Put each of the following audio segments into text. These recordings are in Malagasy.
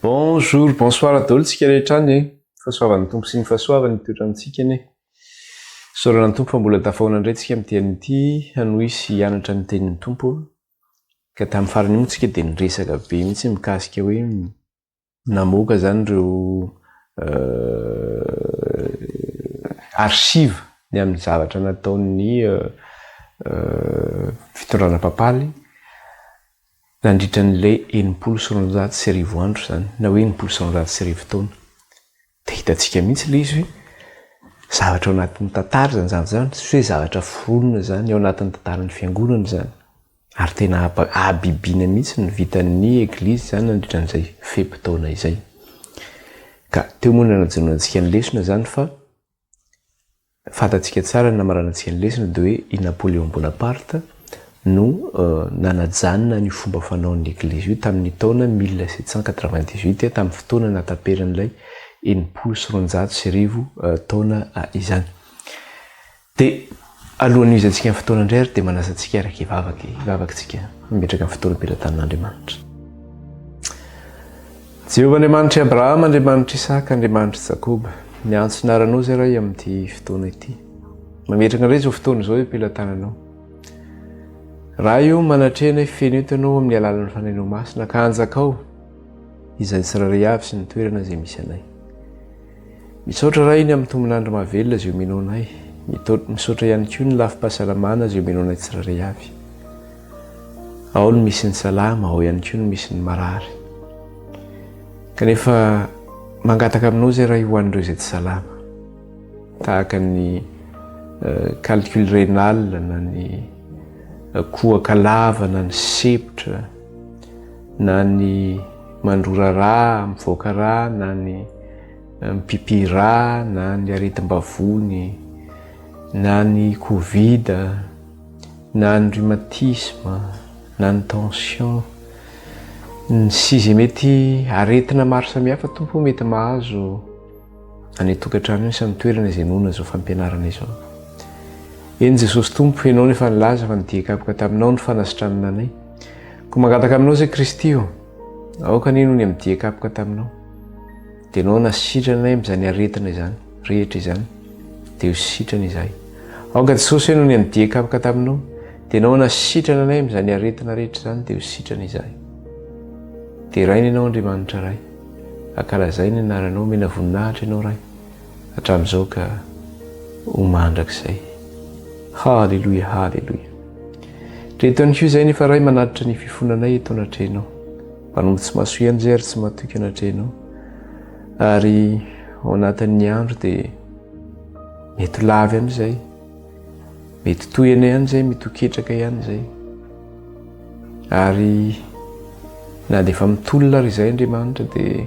Bonjour, bonsoir daholo tsika rehetra any e. Fahasoavan'ny Tompo sy ny fahasoavany mitoetra amintsika anie. Saorana ny Tompo fa mbola tafahoana indray tsika amin'ity anio ity hanohy sy hianatra ny tenin'ny Tompo. Ka tamin'ny farany moa tsika dia niresaka be mihitsy mikasika hoe namoaka izany ireo archives ny amin'ny zavatra nataon'ny fitondrana papaly nandritra an'ilay enimpolo sy roanjato sy arivo andro izany, na hoe enimpolo sy roanjato sy arivo taona. Dia hitantsika mihitsy ilay izy hoe zavatra ao anatin'ny tantara izany zavatra izany, tsy hoe zavatra foronina izany, ao anatin'ny tantaran'ny Fiangonana izany. Ary tena habibiana mihitsy ny vitan'ny Eglizy izany nandritra an'izay fe-potoana izay. Ka teo moa no nanajonoantsika ny lesona izany fa, Fantatsika tsara ny namaranantsika ny lesona dia hoe i Napoléon Bonaparte no nanajanona an'io fomba fanaon'ny Eglizy io tamin'ny taona mille sept cent quatre-vingt-dix-huit, tamin'ny fotoana nahataperan'ilay enimpolo sy roanjato sy arivo taona izany. Dia alohan'ny hizantsika ny fotoana indray ary dia manasa antsika araka hivavaka, hivavaka isika, hametraka ny fotoana am-pelatanan'Andriamanitra. Jehovah Andriamanitr'i Abrahama, Andriamanitr'i Isaka, Andriamanitr'i Jakoba, miantso ny aranao izay Ray amin'ity fotoana ity. Mametraka indray izao fotoana izao eo am-pelatananao. Ray o, manatrehana io feno eto ianao amin'ny alalan'ny Fanahinao Masina ka anjakao izay tsirairay avy sy ny toerana izay misy anay. Misaotra Ray ny amin'ny tombon'andro mahavelona izay omenoanay. Misaotra ihany koa ny lafim-pahasalamana izay omenoanay tsirairay avy. Ao no misy ny salama, ao ihany koa no misy ny marary. Kanefa mangataka aminao izay Ray ho an'ireo izay tsy salama, tahaka ny eh, calcul rénal na ny eh, kohaka lava na ny sepotra na ny mandrora ra, mivoaka ra na ny eh, mipipi ra na ny aretim-bavony na ny covid na ny rhumatisme, na ny tension, sy izay mety aretina maro samihafa Tompo o mety mahazo any an-tokantrano any sy amin'ny toerana izay noana izao fampianarana izao. Eny Jesosy Tompo, Ianao no efa nilaza fa ny dia kapoka taminao no fanasitranana anay. Koa mangataka aminao izay Kristy o, aoka anie noho ny amin'ny dia kapoka taminao, dia Ianao hanasitrana anay amin'izany aretina izany. rehetra izany dia ho sitrana izahay. Aoka Jesosy hoe noho ny an'I Diakavaka taminao dia Ianao nasitrana anay amin'izany aretina rehetra izany dia ho sitrana izahay. Deraina Ianao Andriamanitra Ray. Ankalazaina ny anaranao, omena voninahitra Ianao Ray. Hatramin'izao ka ho mandrakizay. Haleloia, haleloia. Reto ihany koa izay nefa Ray manatitra ny fifonanay eto anatrehanao. Mpanompo tsy mahasoa ihany izay ary tsy matoky anatrehanao. ary ao anatin'ny andro dia mety ho lava ihany izay mety tohina ihany izay mety ho ketraka ihany izay ary na dia efa mitolona ary izay andriamanitra dia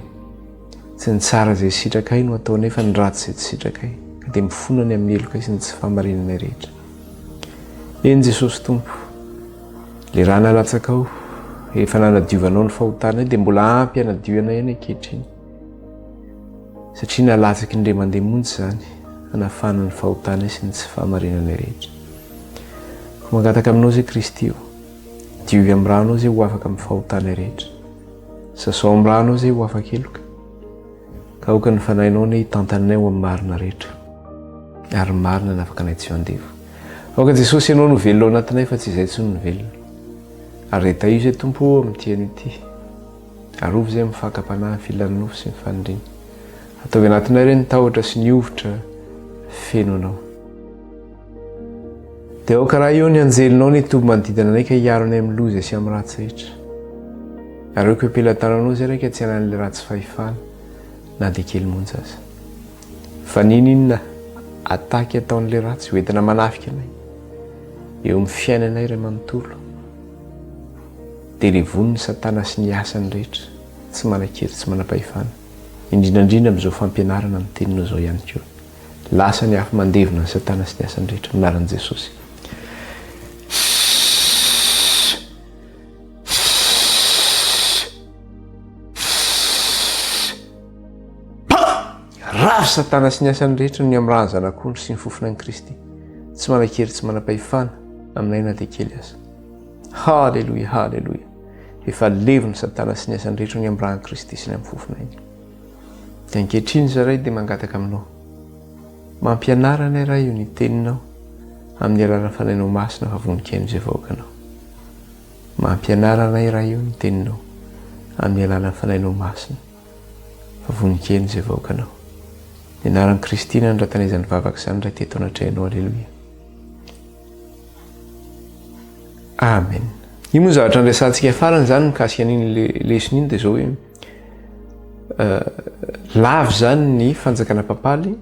tsy ny tsara izay sitrakay no atao nefa ny ratsy izay tsy sitrakay ka dia mifona ny amin'ny heloka sy ny tsy fahamarinanay rehetra eny jesosy tompo Le rà nalatsakao, efa nanadiovanao ny fahotanay dia mbola ampy hanadio anay ihany ankehitriny. Satria nalatsaky ny ray aman-dreny monja izany, hanafahana ny fahotanay sy ny tsy fahamarinanay rehetra. Ko mangataka aminao izay Kristy o, diovy amin'ny rànao izay ho afaka amin'ny fahotanay rehetra. Sasao amin'ny rànao izay ho afaka heloka. Ka aoka ny fanahinao anie hitantanay ho amin'ny marina rehetra. Ary ny marina hanafaka anay tsy ho andevo. Aoka Jesosy Ianao no velona ao anatinay fa tsy izay intsony no velona. Areto aio izay Tompo ô amin'ity anio ity. Arovy izay amin'ny fakam-panahy ny filan'ny nofo sy ny faniriana. Ataovy anatinay ireny ny tahotra sy ny hovitra feno Anao. Dia aoka raha eo ny anjelinao ny toby manodidina anay ka hiaro anay amin'ny loza sy amin'ny ratsy rehetra. Areoko eo am-pelan-tananao izay raika tsy hanan'ilay ratsy fahefana na dia kely monja aza. Fa nininona ataky ataon'ilay ratsy hoentina manafika anay eo amin'ny fiainanay iray manontolo? Dia levon' ny Satana sy ny asany rehetra tsy manan-kery tsy manam-pahefana, indrindra indrindra amin'izao fampianarana ny teninao izao ihany koa. Lasa ny afo mandevona ny Satana sy ny asany rehetra amin'ny anaran'i Jesosy. Ravo satana sy ny asany rehetra ny amiraha ny zanak'ondry sy ny fofona an'i Kristy. Tsy manan-kery tsy manam-pahefana aminay na dia kely aza. Haleloia, haleloia. Efa levon'ny satana sy ny asany rehetra ny amiraha an'i Kristy sy ny amin'ny fofonay. Dia ankehitriny zaray dia mangataka aminao. Mampianara anay raha io ny teninao amin'ny alalan'ny fanainao masina fa vonikaino izay vahoakanao. Mampianara anay raha io ny teninao amin'ny alalan'ny fanainao masina. Vavony kely izay vahoakanao. Ny anaran'i Kristy nanondratana izany vavaka izany raha teto anatrehanao. Aleloia. Amen. Io moa zavatra niresantsika farany izany mikasika an'iny lesona iny dia izao hoe euh, lavo izany ny fanjakana papaly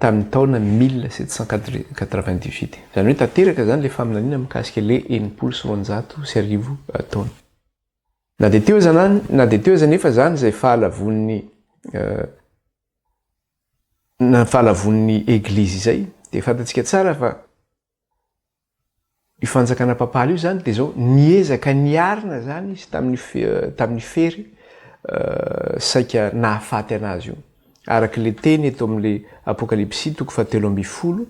tamin'ny taona 1798. Izany hoe tanteraka izany ilay faminaniana mikasika ilay enimpolo sy roanjato sy arivo euh, taona. Na dia teo aza na na dia teo aza anefa izany izay fahalavoan'ny na fahalavoan'ny Eglizy izay dia fantatsika tsara fa io fanjakana papaly io izany dia izao niezaka niarina izany izy tamin'ny tamin'ny fery saika nahafaty anazy io araka le teny eto amin'le apokalypsy toko fahatelo ambin'ny folo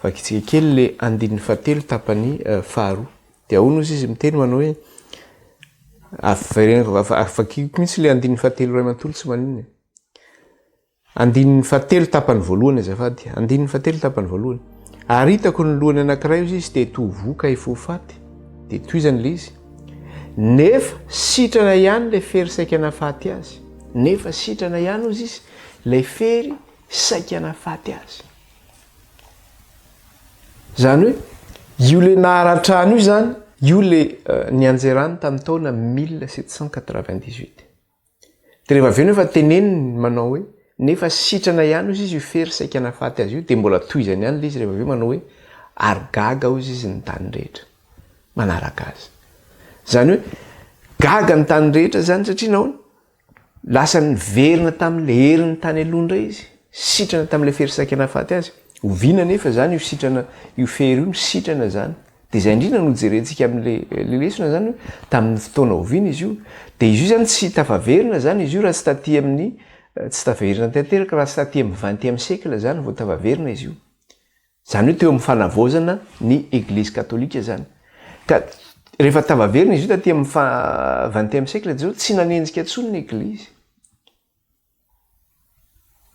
vakitsika kely le andininy fahatelo tapany faharoa Dia hono hozy izy miteny manao hoe, vakiko mihitsy ilay andininy fahatelo iray manontolo tsy maninona e. Andininy fahatelo tapany voalohany azafady, andininy fahatelo tapany voalohany. Ary hitako ny lohany anankiray hozy izy dia toa voka efa ho faty, dia tohizany ilay izy. Nefa sitrana ihany ilay fery saika nahafaty azy. Nefa sitrana ihany hozy izy ilay fery saika nahafaty azy. Izany hoe, io le naharatrany io izany, io le euh, nianjerany tamin'ny taona 1798. Dia rehefa avy eo nefa teneniny manao hoe, nefa sitrana ihany hozy izy io fery saika nafaty azy io, dia mbola tohizany ihany le izy rehefa avy eo manao hoe, ary gaga hozy izy ny tany rehetra manaraka azy. Izany hoe, gaga ny tany rehetra izany satria nahoana? Lasa niverina tamin'ilay heriny tany aloha indray izy, sitrana tamin'ilay fery saika nahafaty azy. Oviana anefa izany io sitrana io fery io nisitrana izany? Dia izay indrindra no jerentsika amin'ilay lesona izany hoe tamin'ny fotoana oviana izy io? Dia izy io izany tsy tafaverina izany izy io raha tsy taty amin'ny tsy tafaverina tanteraka raha tsy taty amin'ny XXème siècle izany vao tafaverina izy io. Izany hoe teo amin'ny fanavaozana ny Eglizy Katolika izany. Ka rehefa tafaverina izy io taty amin'ny faha XXème siècle izao, tsy nanenjika intsony ny Eglizy.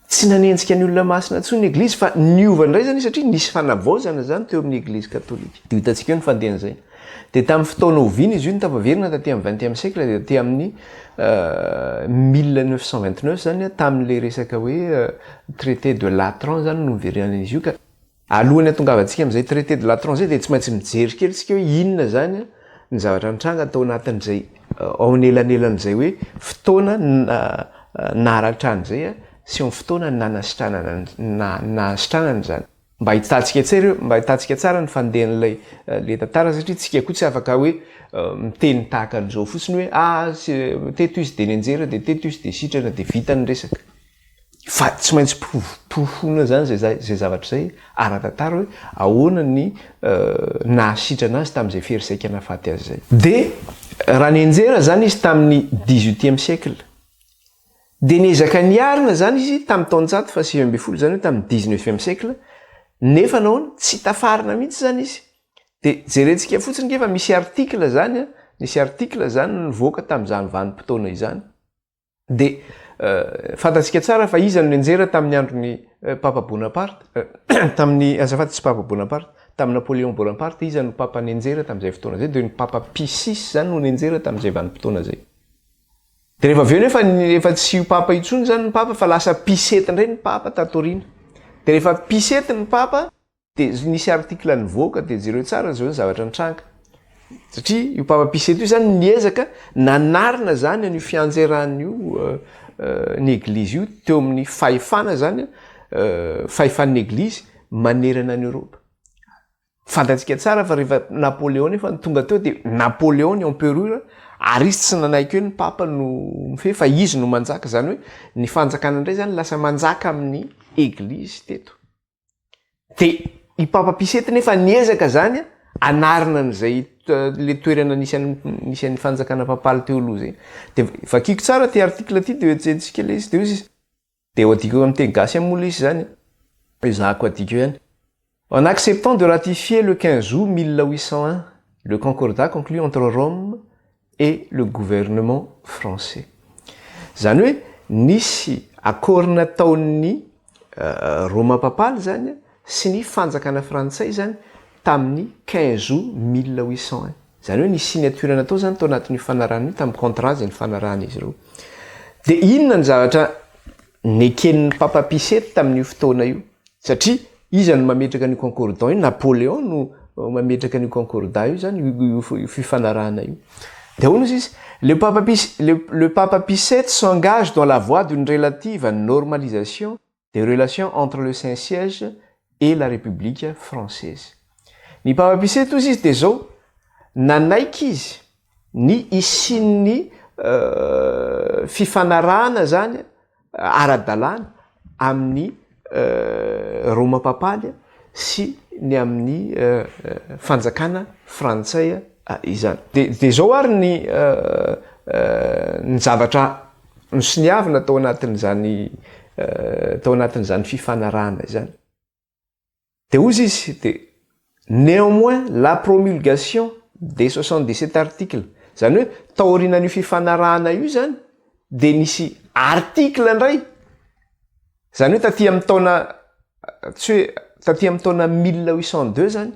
Tsy nanenjika ny olona masina intsony ny Eglizy fa niova indray izany izy satria nisy fanavaozana izany teo amin'ny Eglizy Katolika. Dia ho hitantsika eo ny fandehan'izay. Dia tamin'ny fotoana oviana izy io no tafaverina taty amin'ny vingtième siècle dia taty amin'ny mille neuf cent vingt neuf izany an, tamin'ilay resaka hoe traité de Latran izany no niverenan'izy io ka. Alohan'ny hatongavantsika amin'izay traité de Latran izay dia tsy maintsy mijery kely isika hoe inona izany an ny zavatra nitranga tao anatin'izay ao anelanelan'izay hoe fotoana naratra an'izay an sy ny fotoana nanasitranana nahasitranana izany. Mba hitantsika tsara, mba hitantsika tsara ny fandehan'ilay le tantara satria tsika koa tsy afaka hoe miteny tahaka an'izao fotsiny hoe ah teto izy de nenjehina de teto izy de sitrana de vita ny resaka fa tsy maintsy porofoina zany zay zay zay zavatra zay ara-tantara hoe ahoana ny nahasitrana azy tamin'izay fery saika nahafaty azy zay de raha nenjehina zany izy tamin'ny dix-huitième siècle Dia niezaka niarina izany izy tamin'ny taonjato fahasivy ambin'ny folo, izany hoe tamin'ny dix-neuvième siècle, nefa nahoana? Tsy tafarina mihitsy izany izy. Dia jerentsika fotsiny nge fa misy article izany, nisy article izany nivoaka tamin'izany vanim-potoana izany. Dia fantatsika tsara fa iza no nianjera tamin'ny andron'ny Papa Bonaparte, tamin'ny, azafady, tsy Papa Bonaparte, tamin'i Napoléon Bonaparte, iza no Papa nianjera tamin'izay fotoana izay? Dia ny Papa Pie six izany no nianjera tamin'izay vanim-potoana izay. Dia rehefa avy eo nefa efa tsy io papa intsony izany ny papa fa lasa pisety indray ny papa tato aoriana. Dia rehefa pisety ny papa dia nisy article nivoaka dia jereo tsara izao ny zavatra nitranga. Satria io papa pisety io izany niezaka nanarina izany an'io fianjeran'io ny eglizy io teo amin'ny fahefana izany fahefan'ny eglizy manerana an'i Eoropa. Fantatsika tsara fa rehefa Napoléon efa no tonga teo dia Napoléon ny emperura ary izy tsy nanaiky hoe ny papa no mifehy fa izy no manjaka izany hoe ny fanjakana indray izany lasa manjaka amin'ny eglizy teto. Dia i Papa Pie sept nefa niezaka izany hanarina an'izay ilay toerana nisy an'i nisy an'ny fanjakana papaly teo aloha izay. Dia vakiko tsara ity article ity dia hoejentsika ilay izy dia hoy izy Dia ho adiko amin'ny teny gasy moa lesy izany e! Ezahako adiko ihany. En acceptant de ratifier le quinze août mille huit cent un le concordat conclu entre Rome et le gouvernement français. Izany hoe nisy accord nataon'ny Roma papaly izany sy ny fanjakana frantsay izany tamin'ny quinze août mille huit cent un. Izany hoe nisy signature natao izany tao anatin'io fanarahana io, tamin'ny contrat izay nifanarahana izy ireo. Dia inona ny zavatra neken'ny Papa Pie sept tamin'io fotoana io? Satria iza no mametraka an'io concordat io? Napoléon no mametraka an'io concordat io izany, io fifanarahana io. Dia ahoana hozy izy? Le Papa Pie, le Papa Pie sept s'engage dans la voie d'une relative normalisation, des relations entre le Saint Siège et la République Française. Ny Papa Pie VII hozy izy dia izao, nanaiky izy ny hisian'ny fifanarahana izany ara-dalàna amin'ny Roma Papaly, sy ny amin'ny fanjakana frantsay izany. Dia izao ary ny ny zavatra nosoniavina tao anatin'izany tao anatin'izany fifanarahana izany. Dia hozy izy dia néanmoins la promulgation des soixante dix sept articles, izany hoe taorianan'io fifanarahana io izany dia nisy article indray, Izany hoe taty amin'ny taona tsy hoe taty amin'ny taona mille huit cent deux izany,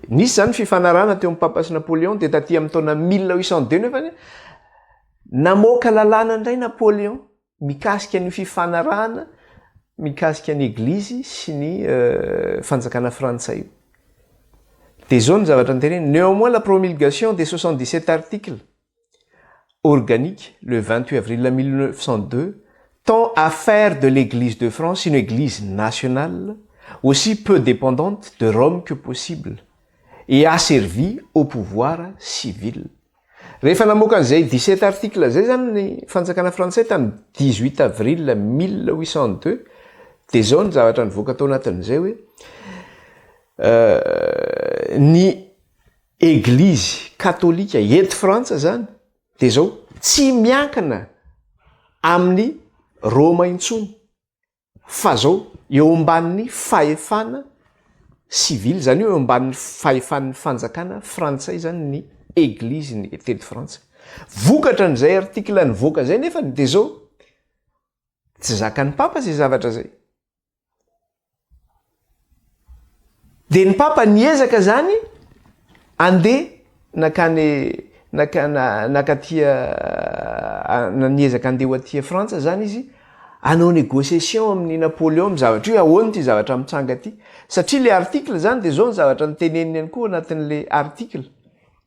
nisy izany fifanarahana teo amin'ny Papa sy Napoléon dia taty amin'ny taona mille huit cent deux nefany namoaka lalàna indray Napoléon mikasika an'io fifanarahana mikasika ny Eglizy sy ny fanjakana frantsay io. Dia izao ny zavatra noteneniny, Néanmoins la promulgation des soixante dix sept articles organique le vingt huit avril mille neuf cent deux tend à faire de l'Eglise de France une Eglise nationale aussi peu dépendante de Rome que possible et asservie au pouvoir civil. Rehefa namoaka an'izay dix sept articles izay izany ny fanjakana frantsay tamin'ny dix huit avril mille huit cent deux dia izao ny zavatra nivoaka tao anatin'izay hoe ny Eglizy katolika eto Frantsa izany dia izao tsy miankina amin'i Roma intsony fa izao eo ambanin'ny fahefana sivily, izany hoe eo ambanin'ny fahefan'ny fanjakana frantsay izany ny eglizy teto Frantsa. Vokatra an'izay article nivoaka izay nefany dia izao, tsy zakan'ny papa izay zavatra izay. Dia ny papa niezaka izany andeha nakany naka nakaty niezaka andeha ho aty Frantsa izany izy hanao négociation amin'i Napoléon amin'ny zavatra io hoe ahoana ity zavatra mitranga ity satria ilay article izany dia izao ny zavatra noteneniny ihany koa ao anatin'ilay article.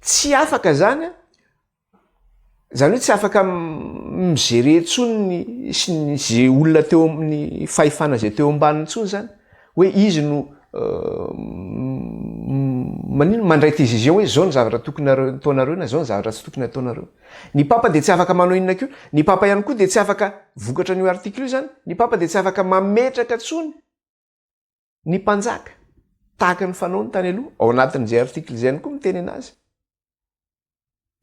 tsy afaka izany an, izany hoe tsy afaka mi-gerer intsony ny ny izay olona teo amin'ny fahefana izay teo ambaniny intsony izany hoe izy no maninona, mandray décision hoe izao ny zavatra tokony ataonareo na izao ny zavatra tsy tokony ataonareo. Ny papa dia tsy afaka manao inona koa, ny papa ihany koa dia tsy afaka, vokatra an'io article io izany, ny papa dia tsy afaka mametraka intsony, Ny mpanjaka, tahaka ny fanaony tany aloha, ao anatin'izay article izay ihany koa miteny anazy.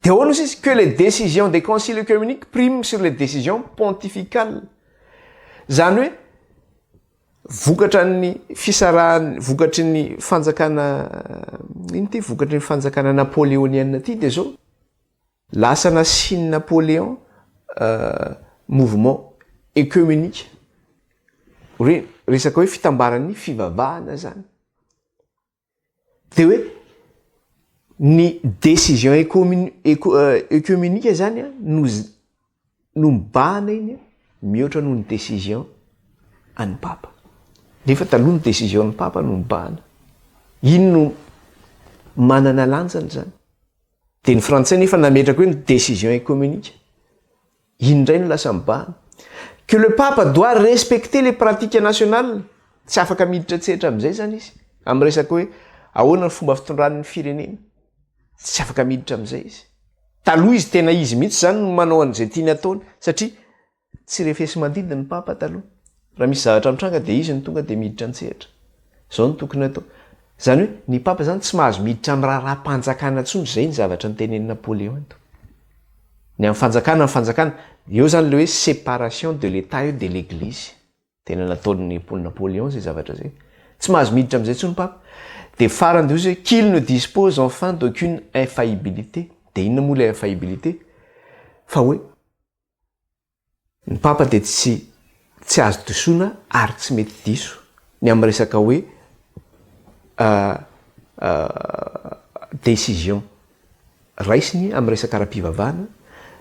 Dia ahoana osa izy, que les décisions des conciles œcuméniques priment sur les décisions pontificales. Izany hoe, vokatra ny fisarahany, vokatry ny fanjakana, ino ity, vokatry ny fanjakana napoléonienne ity dia izao, Lasa nasian'i Napoléon mouvement ecoemenika, hoe resaka hoe fitambaran'ny fivavahana zany. De hoe ny decision ecoemenika zany no. no mibahana iny mihoatra noho ny décision an'ny papa. Nefa taloha ny décision an'ny papa no mibahana. Iny no manana lanjany zany. Dia ny frantsay nefa nametraka hoe ny décision écomunique. Iny indray no lasa mibahana. Que le pape doit respecter les pratiques nationales, tsy afaka miditra an-tsehatra amin'izay zany izy, amin'ny resaka hoe ahoana ny fomba fitondrany ny firenena. Tsy afaka miditra amin'izay izy. Taloha izy tena izy mihitsy izany no manao an'izay tiany ataony satria tsy refesi-mandidy ny Papa taloha. Raha misy zavatra mitranga dia izy no tonga dia miditra an-tsehatra. Izao no tokony atao. Izany hoe ny Papa izany tsy mahazo miditra amin'ny raharaham-panjakana intsony izay ny zavatra notenenin'i Napoléon eto. Ny an'ny fanjakana ny fanjakana. Eo izany ilay hoe séparation de l'Etat et de l'Eglise. Tena nataon'ny Paul Napoléon zay zavatra zay. Tsy mahazo miditra amizay tsony papa. De farany de ozy oe qu'il ne dispose enfin d'aucune infaillibilité. De inona moa le infaillibilité? Fa oe ny papa de tsy tsy azo disoina ary tsy mety diso ny am resaka oe décision raisiny amin'ny resaka ara-pivavahana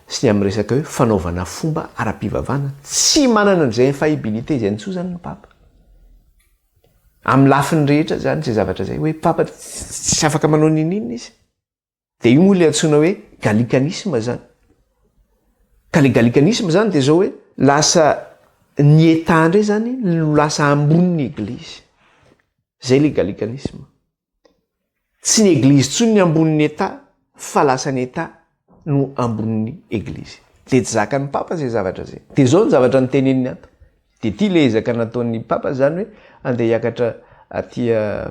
sy ny amin'ny resaka hoe fanaovana fomba ara-pivavahana, tsy manana an'izay infaillibilité izay intsony izany ny papa. Amin'ny lafiny rehetra izany izay zavatra izay, hoe papa tsy afaka manao n'inon'inona izy. Dia io moa ilay antsoina hoe gallicanisme izany. Ka ilay gallicanisme izany dia izao hoe lasa ny Etat indray izany no lasa ambony ny Eglizy. Izay ilay gallicanisme. Tsy ny eglizy tsony ny ambonin'ny etat fa lasa ny etat no ambonin'ny eglizy. Dia tsy zakan'ny papa zay zavatra zay. Dia zao ny zavatra noteneniny ato. Dia ty le ezaka nataon'ny papa zany hoe andeha hiakatra aty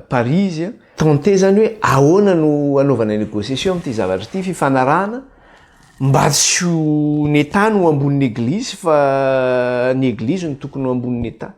Paris izy tenter zany hoe ahoana no anaovana negociation amin'ity zavatra ity, fifanarahana mba tsy ho ny etat no ambonin'ny eglizy fa ny eglizy no tokony ho ambonin'ny etat.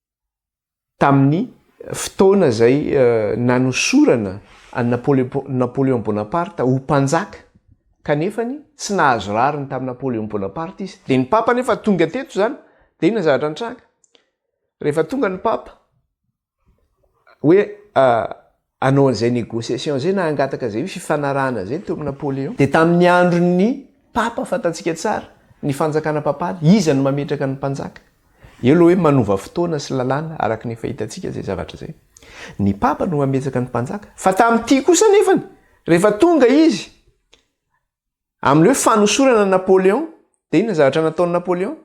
Tamin'ny fotoana izay nanosorana an'i Napoléon Bonaparte ho mpanjaka kanefa ny tsy nahazo rariny tamin'i Napoléon Bonaparte izy. Dia ny Papa anefa tonga teto izany, dia inona zavatra nitranga? Rehefa tonga ny Papa, hoe hanao an'izay négociation izay na hangataka izay fifanarahana izay ny teo amin'i Napoléon. Dia tamin'ny andron'ny Papa fantantsika tsara ny fanjakana papaly, iza no mametraka ny mpanjaka. Eo ilay hoe manova fotoana sy lalàna araka ny efa hitantsika izay zavatra izay. Ny Papa no mametsaka ny mpanjaka. Fa tamin'ity kosa anefany, rehefa tonga izy, Amin'ireo fanosorana an'i Napoléon, dia inona zavatra nataon'i Napoléon?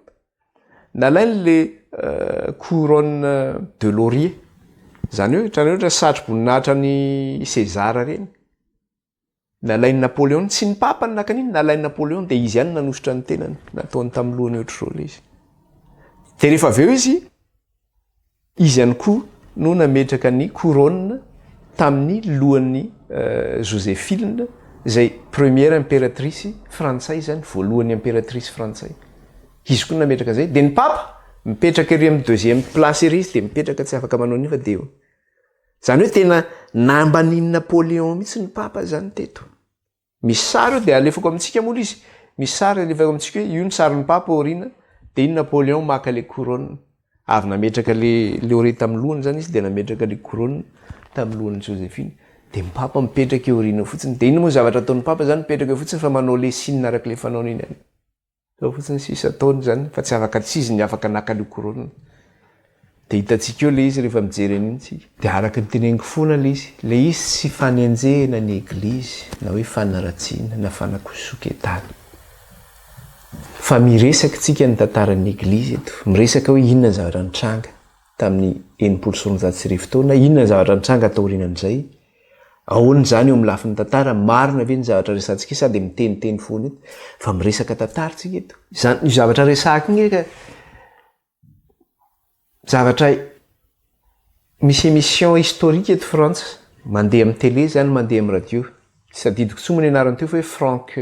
Nalainy ilay couronne de laurier. Izany hoe, hitanareo ilay satroboninahitra an'i César ireny? Nalain'i Napoléon, tsy ny papa no naka an'iny, nalain'i Napoléon, dia izy ihany no nanosotra ny tenany, nataony tamin'ny lohany ohatr'izao ilay izy. Dia rehefa avy eo izy, Izy ihany koa no nametraka ny couronne tamin'ny lohan'i Joséphine, izay première impératrice frantsay izany, voalohan'ny impératrice frantsay. Izy koa no nametraka an'izay. Dia ny papa, mipetraka ery amin'ny deuxième place ery izy dia mipetraka tsy afaka manao an'io fa dia eo. Izany hoe tena nambanin'i Napoléon mihitsy ny papa izany teto. Misy sary eo dia alefako amintsika moa lzy misy sary alefako amintsika hoe io ny sarin'ny papa aoriana dia iny Napoleon maka ilay couronne avy nametraka ilay laurier tamin'ny lohany izany izy dia nametraka ilay couronne tamin'ny lohan'i Josephine dia ny papa mipetraka eo aoriana eo fotsiny dia iny moa ny zavatra ataon'ny papa izany mipetraka eo fotsiny fa manao ilay signe araka ilay fanaony iny any Zao fotsiny sisa taona zany fa tsy afaka tsy izy ny afaka naka an'io corona de hitantsika eo le izy rehefa mijery an'io tsika. De araka ny teneniko fona le izy, le izy tsy fanenjehana ny eglizy na hoe fanaratsiana na fanakosonketana fa miresaky tsika ny tantaran'ny eglizy eto, miresaka hoe inona ny zavatra nitranga tamin'ny enimpolo sy roanjato sy arivo taona, inona ny zavatra nitranga taorianan'izay, Ahoana izany eo amin'ny lafiny tantara? Marina ve ny zavatra resantsika sa dia miteniteny foana eto? Fa miresaka tantara tsika eto. Izany io zavatra resahako io nge ka zavatra misy emission historique eto Frantsa, mandeha amin'ny télé izany, mandeha amin'ny radio. Tsy tadidiko intsony moa ny anarany teo fa hoe Franck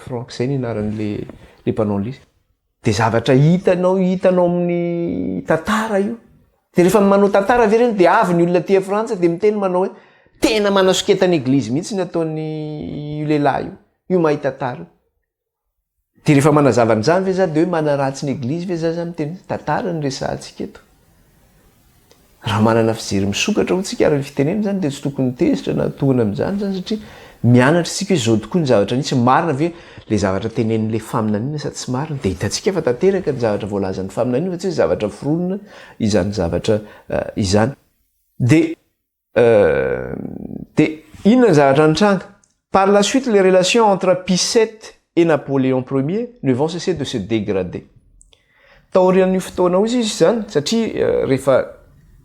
Franck izay ny anaran'ilay ilay mpanao ny. Dia zavatra hitanao hitanao amin'ny tantara io. Dia rehefa manao tantara ve ireny dia avy ny olona aty Frantsa dia miteny manao hoe tena manasoketa ny eglizy mihitsy ny ataon'ny io lehilahy io, io mahay tantara io. Dia rehefa manazava an'izany ve za dia hoe manaratsy ny eglizy ve za zany miteny tantara no resahantsika eto. Raha manana fijery misokatra hotsika ary ny fitenenana izany dia tsy tokony tezitra na tohana amin'izany izany satria mianatra isika hoe izao tokoa ny zavatra nisy, marina ve ilay zavatra tenenin'ilay faminaniana sa tsy marina dia hitantsika fa tanteraka ny zavatra voalazan'ny faminaniana fa tsy hoe zavatra foronina izany zavatra izany. Dia dia inona ny zavatra nitranga par la suite les relations entre pisette et napoléon premier ne vont cesser de se dégrader taorian'io fotoana ozy izy zany satria euh, rehefa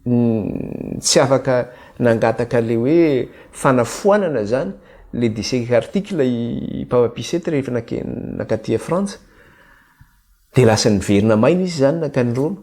mm, tsy afaka nangataka le hoe fanafoanana zany le dc article i papa pisette rehefa nakatia frantsa de lasa niverina maina izy zany nankany roma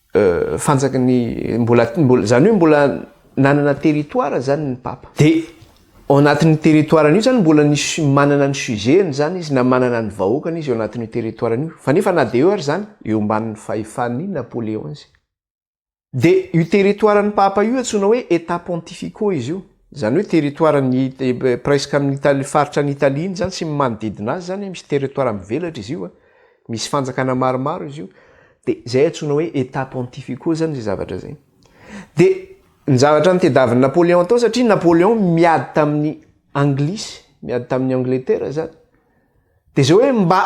fanjaky ny mbola mbola zany hoe mbola nanana territoire zany ny papa de ao anatin'ny territoire an'io zany mbola nisy manana ny sujet-ny zany izy na manana ny vahoakany izy eo anatin'io territoire an'io fa nefa na de eo ary zany eo ambanin'ny fahefan'ny Napoléon izy de io territoire an'ny papa io antsoina hoe état pontificaux izy io zany hoe territoire ny presque amin'ny Italie faritra any Italie iny zany sy ny manodidina azy zany misy territoire mivelatra izy io a Misy fanjakana maromaro izy io, dia izay antsoina hoe Etats pontificaux izany izay zavatra izay. Dia ny zavatra notediavin'i Napoléon tao, satria Napoléon miady tamin'ny Anglisy, miady tamin'ny Angletera izany, dia izay hoe mba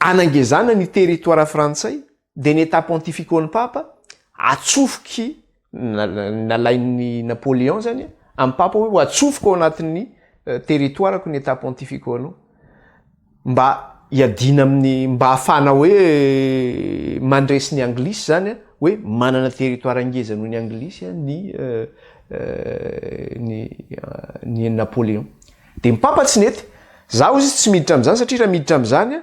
hanangezana ny territoire frantsay, Denetà Pontificaon'ny Papa, atsofoky, nalain'i Napoléon izany amin'ny Papa hoe ho atsofoko ao anatin'ny territoire-ko ny Età Pontificaonao, mba hiadiana amin'ny, mba hahafahana hoe mandresy ny Anglisy izany hoe manana territoire ngeza noho ny Anglisy ny ny Napoléon. Dia ny Papa tsy nety. Izaho hoy izy tsy miditra amin'izany satria raha miditra amin'izany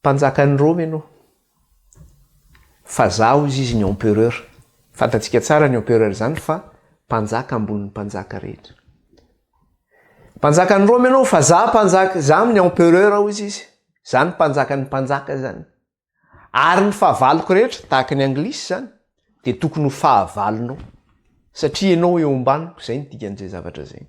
Mpanjakan'i Roma ianao. Fa za hozy izy ny empereur. Fantatsika tsara ny empereur izany fa mpanjaka ambonin'ny mpanjaka rehetra. Mpanjakan'i Roma ianao fa za mpanjaka, za amin'ny empereur hozy izy. Za ny mpanjakan'ny mpanjaka izany. Ary ny fahavaloko rehetra, tahaka ny anglisy izany, dia tokony ho fahavalonao. Satria ianao eo ambaniko, izay ny dikan'izay zavatra izay.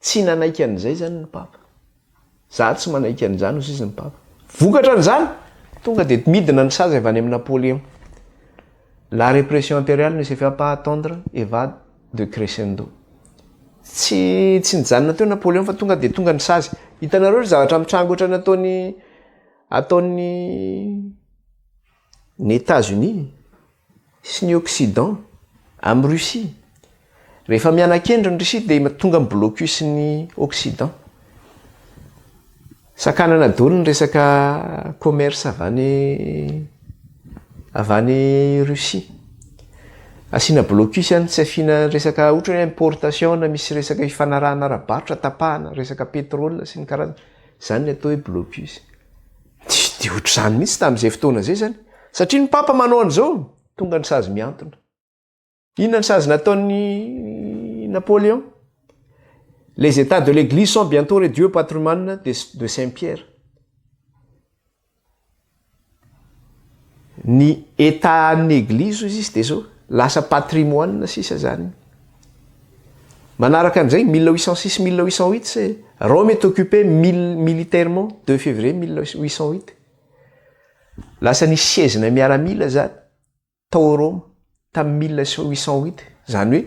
Tsy nanaiky an'izay izany ny Papa. Izaho tsy manaiky an'izany, hoy sisa ny Papa. Vokatra an'izany, tonga dia midina ny sazy avy any amin'i Napoléon. La répression impériale ne se fait pas attendre et va de crescendo. Tsy, tsy nijanona teo Napoléon fa tonga dia tonga ny sazy. Hitanareo ry zavatra mitranga ohatran'ny ataon'i, ataon'i. Ny États-Unis sy ny Occident amin'i Russie. Rehefa miana-kendry ny Russie dia tonga amin'ny blocus ny Occident. Sakanana daholo ny resaka commerce avy any avy any Russie. Asiana blocus ihany tsy afiana resaka ohatra hoe importation na misy resaka hifanarahana ara-barotra tapahana resaka pétrole sy ny karazany. Izany no atao hoe blocus. Tsy dia ohatr'izany mihitsy tamin'izay fotoana izay izany, satria ny Papa manao an'izao, tonga ny sazy mihantona. Inona ny sazy nataon'i Napoléon? Les états de l'église sont bientôt réduits au patrimoine de Saint-Pierre. Ny état an'ny eglizy hoy izy dia izao, lasa patrimoine sisa zany. Manaraka an'izay, mille huit cent six, mille huit cent huit c'est Rome est occupé militairement deux février mille huit cent huit. Lasa nisy sezina miaramila zany tao Roma tamin'ny mille huit cent huit. Zany hoe.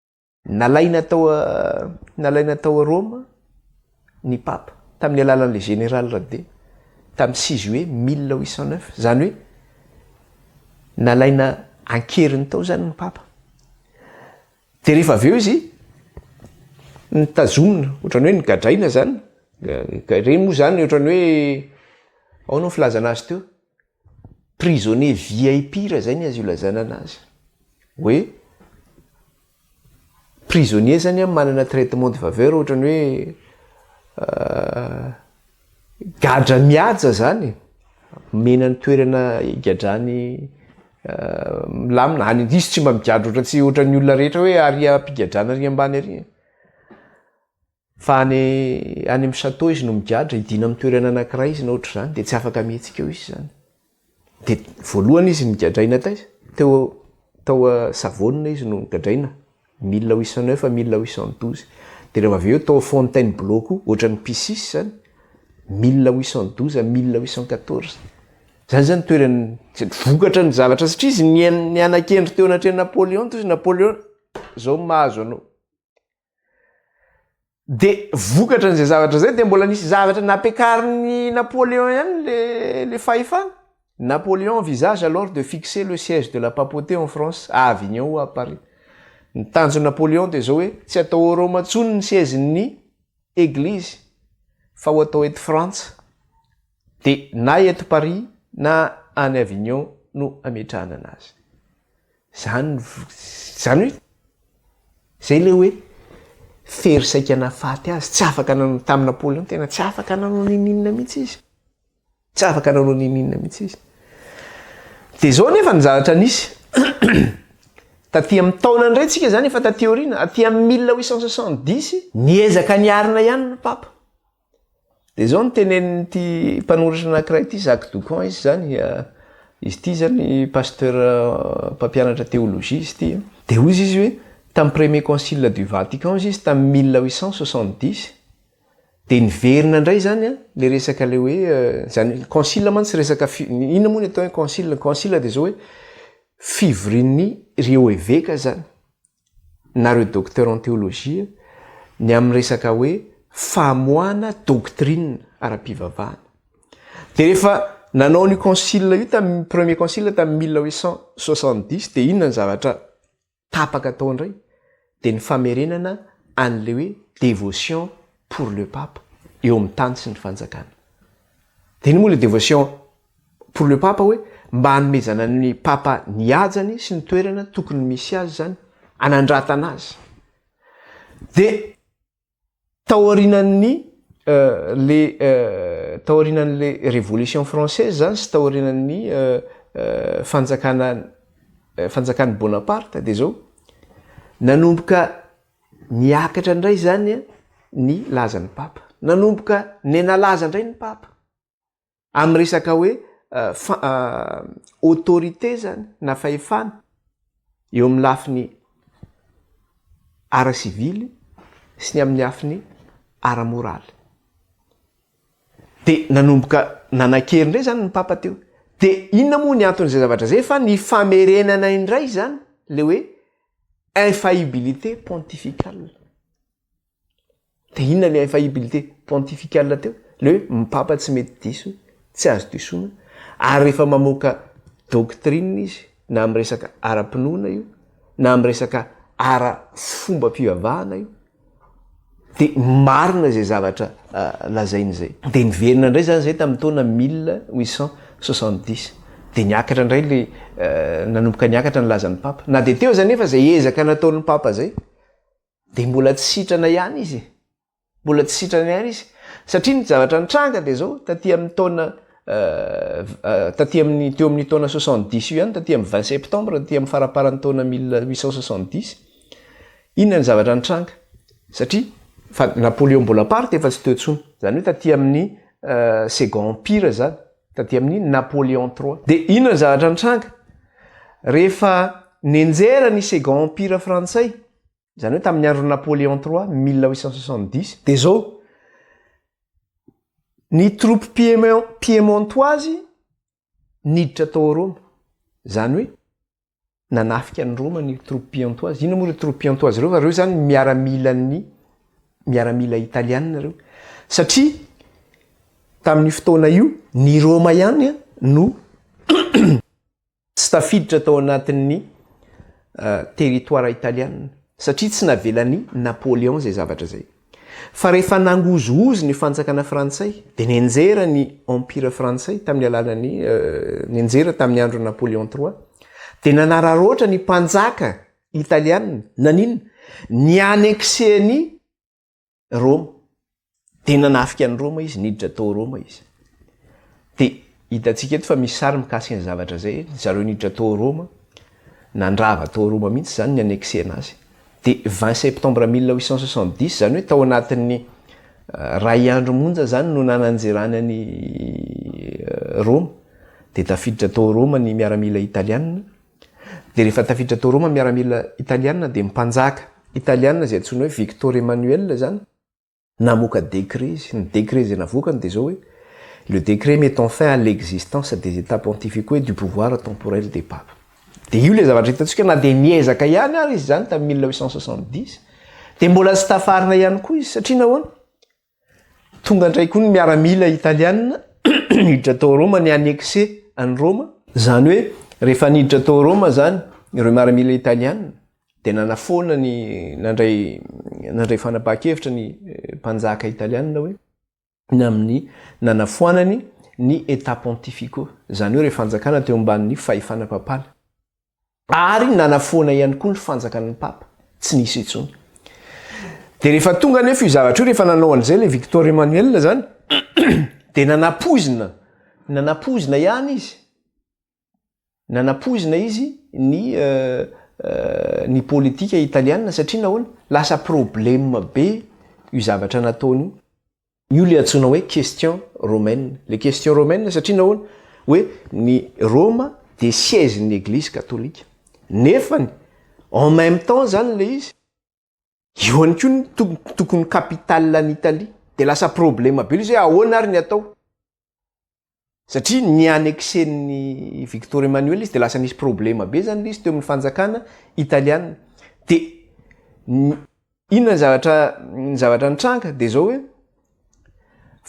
Nalaina tao nalaina tao Roma ny Papa tamin'ny alalan'ilay Général Rade tamin'ny six juillet mille huit cent neuf, izany hoe nalaina an-keriny tao izany ny Papa. Dia rehefa avy eo izy nitazomina, ohatran'ny hoe nigadraina izany, ireny moa izany ohatran'ny hoe ahoana ny filazana azy teo? Prisonnier VIP raha zay ny azo ilazana anazy. Hoe prisonnier zany an manana traitement de faveur ohatra ny hoe gadra mihaja zany e, omena ny toerana higadrany milamina, any diso tsy mba migadra ohatra tsy ohatra ny olona rehetra hoe aria am-pigadrana ary ambany ary e. Fa any any amin'ny château izy no migadra, hidiana amin'ny toerana anankiray izy na ohatr'izany dia tsy afaka mihetsika eo izy izany. Dia voalohany izy nigadraina taiza? Teo tao Savona izy no gadraina, mille huit cent neuf à mille huit cent douze. Dia rehefa avy eo tao Fontainebleau koa, ohatran'ny Picis izany, mille huit cent douze à mille huit cent quatorze. Izany izany toeran'ny, vokatra ny zavatra satria izy nihaino niana-kendry teo anatrehan'i Napoléon toy izy, Napoléon, izao no mahazo anao. Dia vokatra an'izay zavatra izay dia mbola nisy zavatra nampiakarin'i Napoléon ihany le le fahefana. Napoléon envisage alors de fixer le siège de la papauté en France à Avignon ou à Paris. Ny tanjon'i Napoléon dia izao hoe tsy atao ao Roma intsony ny siège-n'ny Eglizy fa ho atao eto Frantsa. Dia na eto Paris na any Avignon no ametrahana anazy. Izany izany hoe izay ilay hoe fery saika nahafaty azy, tsy afaka nanao tamin'i Napoléon tena tsy afaka nanao n'inon'inona mihitsy izy. Tsy afaka nanao n'inon'inona mihitsy izy. Dia izao nefa ny zavatra nisy. Taty amin'ny taona indray tsika izany efa taty aoriana, aty amin'ny mille huit cent soixante dix, niezaka niarina ihany ny Papa. Dia izao no tenenin'ity mpanoratra anankiray ity, Jacques Doucon izy izany, izy ity izany pasteur mpampianatra théologie izy ity. Dia hoy izy hoe tamin'ny premier concile du Vatican izy izy tamin'ny mille huit cent soixante dix dia niverina indray izany ilay resaka ilay hoe izany concile mantsy resaka inona moa ny atao hoe concile, concile dia izao hoe fivorian'ny ireo eveka izany. nareo docteur en théologie ny amin'ny resaka hoe famoahana doctrine ara-pivavahana de rehefa nanao an'io concile io tamin'ny premier concile tamin'ny mille huit cent soixante dix de inona ny zavatra tapaka atao indray de ny famerenana an'le hoe dévotion pour le pape eo amin'ny tany sy ny fanjakana de iny moa le dévotion Pour le Papa hoe mba hanomezana ny Papa ny hajany sy ny toerana tokony misy azy izany, hanandratana azy. Dia taorianan'ny le taorianan'le Révolution française izany sy taorianan'ny fanjakana fanjakan'i Bonaparte dia izao, nanomboka niakatra indray izany ny lazan'ny Papa. Nanomboka nenalaza indray ny Papa. Amin'ny resaka hoe autorité zany na fahefana eo amin'ny lafiny ara-sivily sy ny amin'ny lafiny ara-moraly. Dia nanomboka nanan-kery indray zany ny papa teo. Dia inona moa ny anton'izay zavatra izay fa ny famerenana indray zany ilay hoe infaillibilité pontificale. Dia inona le infaillibilité pontificale teo? Le hoe ny papa tsy mety diso, tsy azo disoina, ary rehefa mamoaka doctrine izy na amin'ny resaka ara-pinoana io na amin'ny resaka ara fombam-pivavahana io dia marina izay zavatra lazainy izay. Dia niverina indray izany izay tamin'ny taona mille huit cent soixante dix, dia niakatra indray le nanomboka niakatra ny lazan'ny papa. Na dia teo aza anefa izay ezaka nataon'ny papa izay, dia mbola tsy sitrana ihany izy e. Mbola tsy sitrana ihany izy. Satria ny zavatra nitranga dia izao, taty amin'ny taona euh, euh, taty amin'ny teo amin'ny taona 70 io ihany, taty amin'ny 20 septembre, taty amin'ny faraparan'ny taona 1870, inona ny zavatra nitranga? Satria fa Napoléon Bonaparte efa tsy teo intsony. Izany hoe taty amin'ny euh, second empire izany, taty amin'ny Napoléon III. Dia inona ny zavatra nitranga? Rehefa nenjera ny second empire frantsay, Izany hoe tamin'ny andron'i Napoléon iii, mille huit cent soixante-dix, dia izao, ny troupes piemon- piemontoises niditra tao Roma. Izany hoe nanafika an'i Roma ny troupes pieontoises. Inona moa ireo troupes pieontoises ireo fa ireo izany ny miaramilan'ny miaramila italiana ireo. Satria tamin'io fotoana io, ny Roma ihany no Tsy tafiditra tao anatin'ny territoire italiana satria tsy navelan'i Napoléon izay zavatra izay. Fa rehefa nangozohozo ny fanjakana frantsay dia nenjera ny Empire frantsay tamin'ny alalan'ny nenjera tamin'ny andron'i Napoléon trois dia nanararaotra ny mpanjaka italiana naninona? Ny-annexer ny Roma. Dia nanafika an'i Roma izy, niditra tao Roma izy. Dia hitantsika eto fa misy sary mikasika ny zavatra izay, zareo niditra tao Roma, nandrava tao Roma mihitsy izany ny annexena azy. Dia 20 septembre 1870, izany hoe tao anatin'ny euh, ray andro monja izany no nananjerany an'i euh, Roma. Dia tafiditra tao Roma ny miaramila italianina, Dia rehefa tafiditra tao Roma miaramila italiana dia mpanjaka italiana izay antsoina hoe Victor Emmanuel izany namoaka décret izy. Ny décret izay navoakany dia izao hoe Le décret mettant fin à l'existence des Etats pontificaux et du pouvoir temporel des papes. Dia io ilay zavatra hitantsika na dia niezaka ihany ary izy izany tamin'ny mille huit cent soixante-dix dia mbola tsy tafarina ihany koa izy. Satria nahoana? Tonga indray koa ny miaramila italiana niditra tao Roma ni annexer an'i Roma. Izany hoe rehefa niditra tao Roma izany ireo miaramila italiana dia nanafoana ny nandray nandray fanapahan-kevitra ny mpanjaka italiana hoe ny amin'ny nanafoanany ny Etats pontificaux, izany hoe ireo fanjakana teo ambanin'ny fahefana papala. ary nanafoana ihany koa ny fanjakan'ny papa, tsy nisy intsony. Dia rehefa tonga anefa io zavatra io, rehefa nanao an'izay ilay Victor Emmanuel izany, dia nanapoizina, nanapoizina ihany izy, nanapoizina izy ny ny politika italiana satria nahoana? Lasa problème be io zavatra nataony io. Io ilay antsoina hoe question romaine. Ilay question romaine satria nahoana? Hoe ny Roma dia siège ny Eglizy Katolika. Nefany en même temps izany ilay izy, eo ihany koa ny tokony capitale an'Italie. Dia lasa problème be ilay izy hoe ahoana ary ny atao? Satria ny annexen'ny Victor Emmanuel izy dia lasa nisy problema be zany le izy teo amin'ny fanjakana italiana. Dia inona ny zavatra ny zavatra nitranga dia zao hoe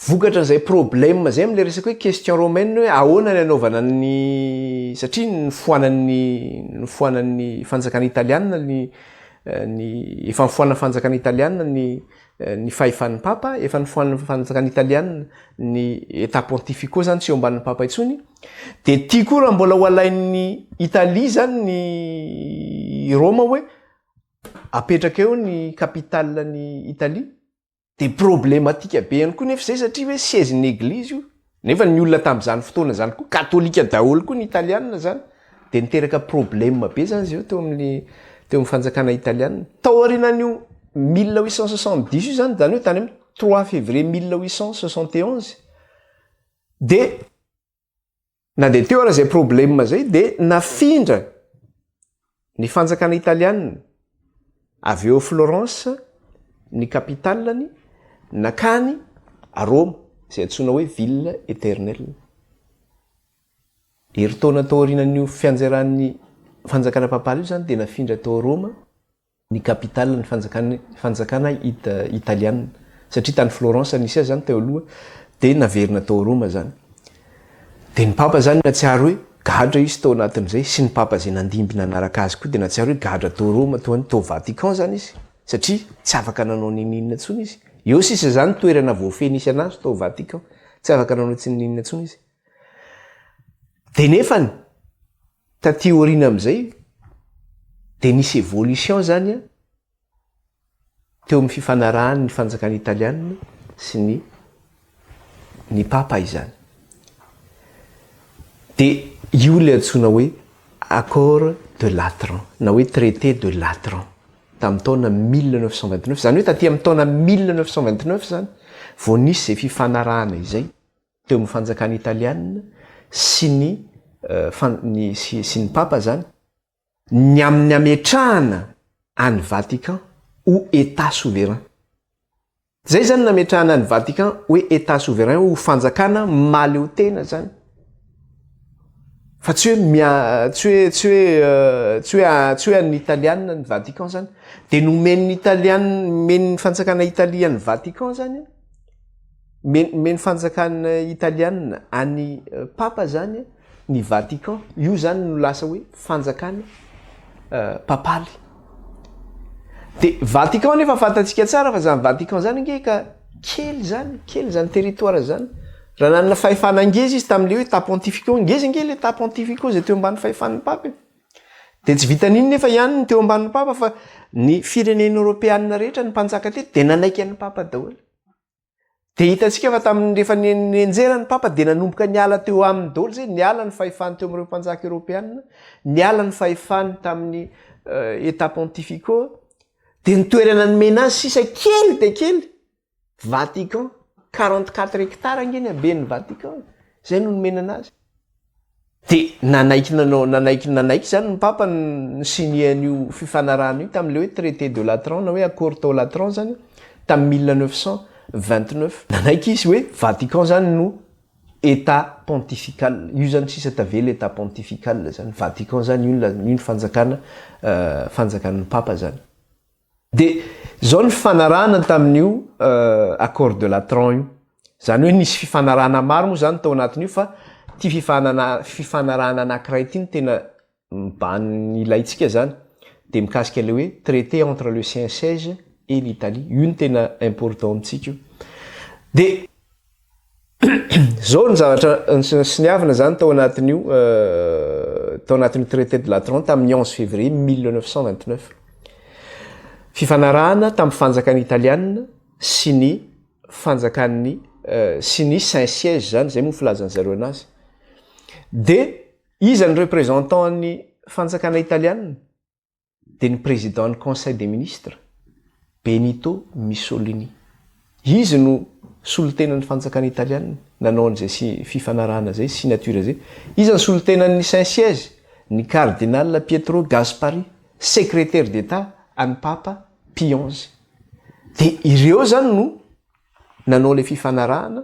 vokatra an'izay problema zay amin'ilay resaka hoe question romaine hoe ahoana ny anaovana ny satria nifoanan'ny nifoanan'ny fanjakana italiana ny ny efa nifoanan'ny fanjakana italiana ny ny fahefan'ny Papa, efa nifoanan'ny fanjakana Italiana ny Etat Pontifico zany tsy eo ambanin'ny Papa intsony, dia ity koa raha mbola ho alain'ny Italie zany ny Roma hoe apetraka eo ny capitale ny Italie dia problematika be ihany koa nefa izay satria hoe siège ny Eglise io. Nefa ny olona tamin'izany fotoana izany koa katolika daholo koa ny italianina izany dia niteraka problème be izany izy ireo teo amin'ny teo amin'ny fanjakana italianina. Tao aorianan'io mille huit cent soixante dix io izany izany hoe tany amin'ny trois février mille huit cent soixante et onze dia na dia teo aza izay problème izay dia nafindra Ny fanjakana italiana, avy eo Florence ny capitalany, nankany Roma, izay antsoina hoe ville éternelle. Herintaona tao aorianan'io fianjeran'ny fanjakana papaly io izany dia nafindra tao Roma ny capitaliny fanjakany fanjakana italiana, satria tany Florence nisy azy izany teo aloha dia naverina tao Roma izany. Dia ny papa izany natsiaro hoe gadra izy tao anatin'izay sy ny papa izay nandimby nanaraka azy koa dia natsiaro hoe gadra tao Roma toa ny tao Vatican izany izy satria tsy afaka nanao n'ininona intsony izy. Eo sisa izany toerana voafehy nisy an'azy tao Vatican. Tsy afaka nanao tsy n'ininona intsony izy. Dia nefany, taty aoriana amin'izay dia nisy evolution izany an! teo amin'ny fifanarahan'ny fanjakana italiana sy ny ny papa izany. Dia io ilay antsoina hoe accord de Latran na hoe traité de Latran tamin'ny taona 1929. Izany hoe taty amin'ny taona 1929 izany vao nisy izay fifanarahana izay teo amin'ny fanjakana italiana sy ny eh, sy ny papa izany Ny amin'ny hametrahana an'i Vatican ho Etat souverain. Zay zany nametrahana an'i Vatican hoe Etat souverain ho fanjakana mahaleotena zany. Fa tsy hoe mia tsy hoe tsy hoe tsy hoe tsy hoe an'ny Italiana ny Vatican zany. De nomen'ny Italiana nomen'ny fanjakana Italia an'i Vatican zany an. Men'ny fanjakana italiana an'i Papa zany ny Vatican. Io zany no lasa hoe fanjakana papaly. De Vatican nefa fantatsika tsara fa zany Vatican zany ange ka kely zany, kely zany territoire zany. Raha nanana fahefana ngeza izy tamin'le hoe état pontifical, ngeza ange le état pontifical zay teo ambany fahefan'ny Papa e. De tsy vitan'iny nefa ihany ny teo ambanin'ny Papa fa ny firenena eoropeana rehetra ny mpanjaka teto de nanaiky an'i Papa daholo. Dia hitantsika fa tamin'ny rehefa nenjera ny papa dia nanomboka niala teo aminy daholo izay, niala ny fahefany teo amin'ireo mpanjaka eoropeanina, niala ny fahefany tamin'ny euh, état pontificaux, dia ny toerana nomena azy sisa kely dia kely, Vatican, 44 hectares ange ny haben'ny Vatican, izay no nomena anazy. Dia nanaiky nanao nanaiky nanaiky izany ny Papa ny ni-signer an'io fifanarahana io tamin'ilay hoe traité de Latran na hoe accord tao Latran izany tamin'ny mille neuf cent vingt neuf. Nanaiky izy hoe Vatican izany no Etat pontifical, io izany sisa tavela Etat pontifical izany, Vatican izany, io no la, io no fanjakana, fanjakan'ny Papa izany. Dia izao ny fifanarahana tamin'io Accord de Latran io. Izany hoe nisy fifanarahana maro moa izany tao anatin'io fa ity fifanana fifanarahana anankiray ity no tena mibano ny ilaintsika izany. Dia mikasika ilay hoe traité entre le Siensege et l'Italie. Io no tena important amintsika io. Dia. zao ny zavatra siniavina zany tao anatin'io euh, tao anatin'io traité de latran tamin'ny onze février mille neuf cent vingt neuf fifanarahana tamin'ny fanjakan'ny italiana sy ny fanjakan'ny euh, sy ny saint siège zany zay moa filazany zareo anazy de iza ny représentant an'ny fanjakana italiana dia ny président ny conseil des ministres, Benito Mussolini. Izy no solontenan'ny fanjakana italiana nanao an'izay si fifanarahana izay, signature izay. Iza ny solontenan'ny saint siège? Ny cardinal Pietro Gasparri, secrétaire d'état an'ny papa Pie xi. Dia ireo izany no nanao ilay fifanarahana.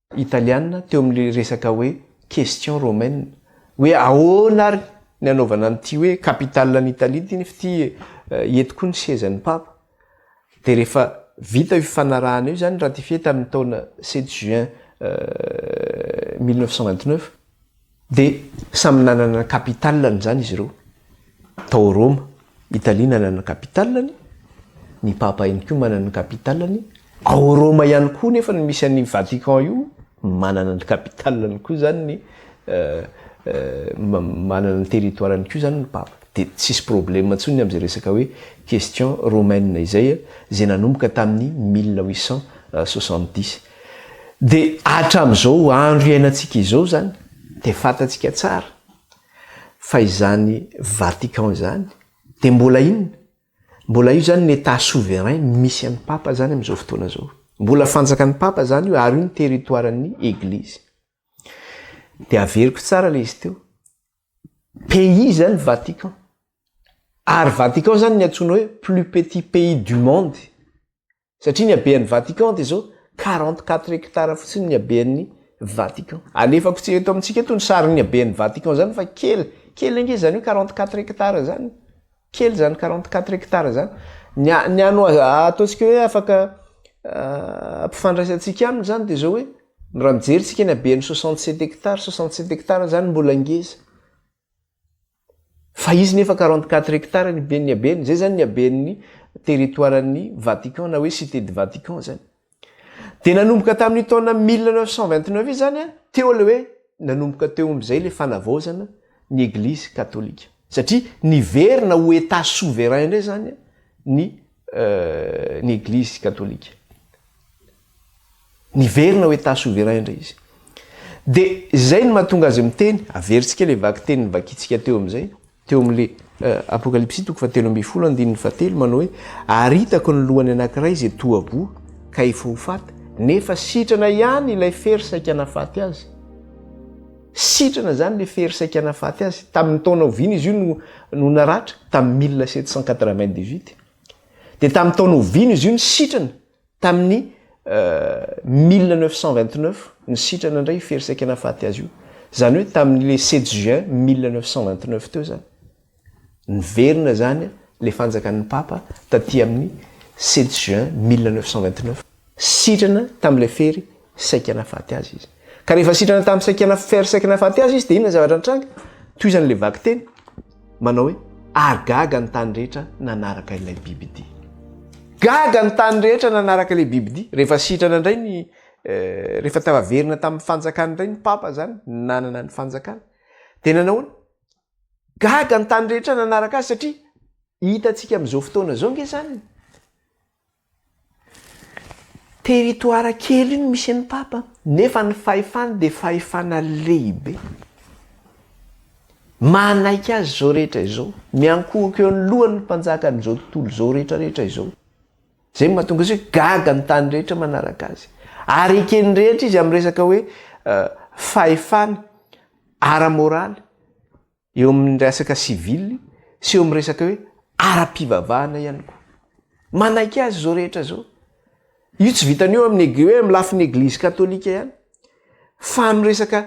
Italiana teo amin'ny resaka hoe question romaine hoe ahoana ary ny anaovana an'ity hoe capitale an'i Italie ity nefa ity eto koa ny sezan'ny Papa dia rehefa vita io fifanarahana io izany ratifié tamin'ny taona sept juin mille neuf cent vingt neuf Dia samy nanana ny capital-ny izany izy ireo. Tao Roma, Italia nanana ny capital-ny, ny Papa ihany koa manana ny capital-ny. Ao Roma ihany koa nefa no misy an'io Vatican io, manana ny capital-ny koa izany ny manana ny territoire-ny koa izany ny Papa. Dia tsisy problème intsony amin'izay resaka hoe question romaine izay, izay nanomboka tamin'ny mille huit cent soixante dix. Dia hatramin'izao andro iainantsika izao izany dia fantatsika tsara fa izany Vatican izany dia mbola inona? Mbola io izany ny Etat souverain misy an'i Papa izany amin'izao fotoana izao. Mbola fanjakan'i Papa izany io ary io ny territoiren'ny Eglizy. Dia averiko tsara ilay izy teo. Pays izany Vatican. Ary Vatican izany ny antsoina hoe plus petit pays du monde. Satria ny habean'ny Vatican dia izao, quarante quatre hectares fotsiny ny habean'ny Vatican. Alefako tsy eto amintsika eto ny sarin'ny habean'ny Vatican izany fa kely, kely ange izany hoe quarante quatre hectares izany, kely izany quarante quatre hectares izany. Ny a- ny ano- ataontsika hoe afaka ampifandraisantsika aminy izany dia izao hoe, raha mijery isika ny habean'ny soixante sept hectares, soixante sept hectares izany mbola ngeza. Fa izy nefa quarante quatre hectares ny ben'ny habeny, izay izany ny haben'ny territoire-n'ny Vatican na hoe Cité du Vatican izany. Dia nanomboka tamin'io taona mille neuf cent vingt neuf io izany teo ilay hoe nanomboka teo amin'izay ilay fanavaozana ny Eglizy Katolika. Satria niverina ho Etat souverain indray izany ny ny eglizy katolika. Niverina ho état souverain indray izy. Dia izay no mahatonga azy miteny, averintsika ilay vaky teny novakintsika teo amin'izay, teo amin'ilay Apokalypsy toko fahatelo ambin'ny folo andininy fahatelo manao hoe ary hitako ny lohany anankiray izay toa voa ka efa ho faty nefa sitrana ihany ilay fery saika nahafaty azy. Sitrana izany ilay fery saika nahafaty azy. Tamin'ny taona oviana izy io no naratra? Tamin'ny mille sept cent quatre-vingt-dix-huit. Dia tamin'ny taona oviana izy io no sitrana? Tamin'ny mille neuf cent vingt-neuf no sitrana indray io fery saika nahafaty azy io. Izany hoe tamin'ilay sept juin mille neuf cent vingt-neuf teo izany. Niverina izany ilay fanjakan'ny Papa taty amin'ny sept juin mille neuf cent vingt-neuf. Sitrana tamin'ilay fery saika nahafaty azy izy. Ka rehefa sitrana tamin'ny saika na fery saika nahafaty azy izy dia inona ny zavatra nitranga? Tohizan'ilay vakiteny manao hoe, Ary gaga ny tany rehetra nanaraka ilay bibidia. Gaga ny tany rehetra nanaraka ilay bibidia. Rehefa sitrana indray ny, rehefa tafaverina tamin'ny fanjakany indray ny Papa izany, nanana ny fanjakany, dia nanahoana? Gaga ny tany rehetra nanaraka azy satria hitantsika amin'izao fotoana izao nge zany territoire kely no misy an'ny papa nefa ny fahefany dia fahefana lehibe. Manaiky azy izao rehetra izao, miankohoka eo anoloan'ny mpanjakan'izao tontolo izao rehetra rehetra izao. Izay no mahatonga azy hoe gaga ny tany rehetra manaraka azy. Ary eken'ny rehetra izy amin'ny resaka hoe fahefana ara-moraly eo amin'ny resaka sivily sy eo amin'ny resaka hoe ara-pivavahana ihany koa. Manaiky azy izao rehetra izao. Io tsy vitany eo amin'ny hoe amin'ny lafiny eglizy katolika ihany fa amin'ny resaka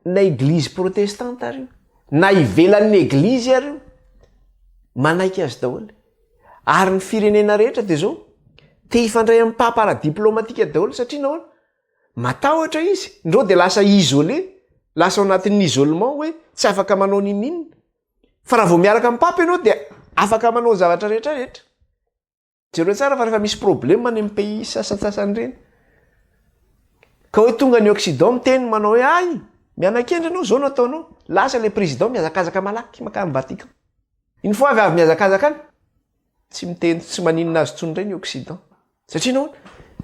na eglizy protestanta ary io na ivelan'ny eglizy ary io manaiky azy daholo. Ary ny firenena rehetra dia zao te hifandray amin'ny papa ara diplomatika daholo satria nahoana? Matahotra izy, ndreo dia lasa isolé, lasa ao anatin'ny isolement hoe tsy afaka manao nininon, fa raha vao miaraka amin'ny papa ianao dia afaka manao ny zavatra rehetra rehetra. Jereo tsara fa rehefa misy problème any amin'ny pays sasantsasany ireny, ka hoe tonga ny occident miteny manao hoe hay miana-kendry ianao zao no ataonao, lasa ilay président mihazakazaka malaky makany vatican. Une fois avy avy mihazakazaka any, tsy miteny, tsy maninona azy intsony ireny occident. Satria nahoana?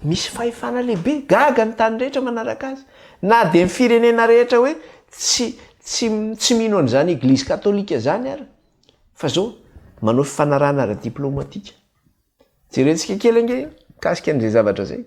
Misy fahefana lehibe, gaga ny tany rehetra manaraka azy. Na dia ny firenena rehetra hoe tsy tsy tsy mino an'izany eglizy katolika izany ary, fa izao manao fifanarahana ara-diplaomatika. Jerentsika kely ange mikasika an'izay zavatra izay.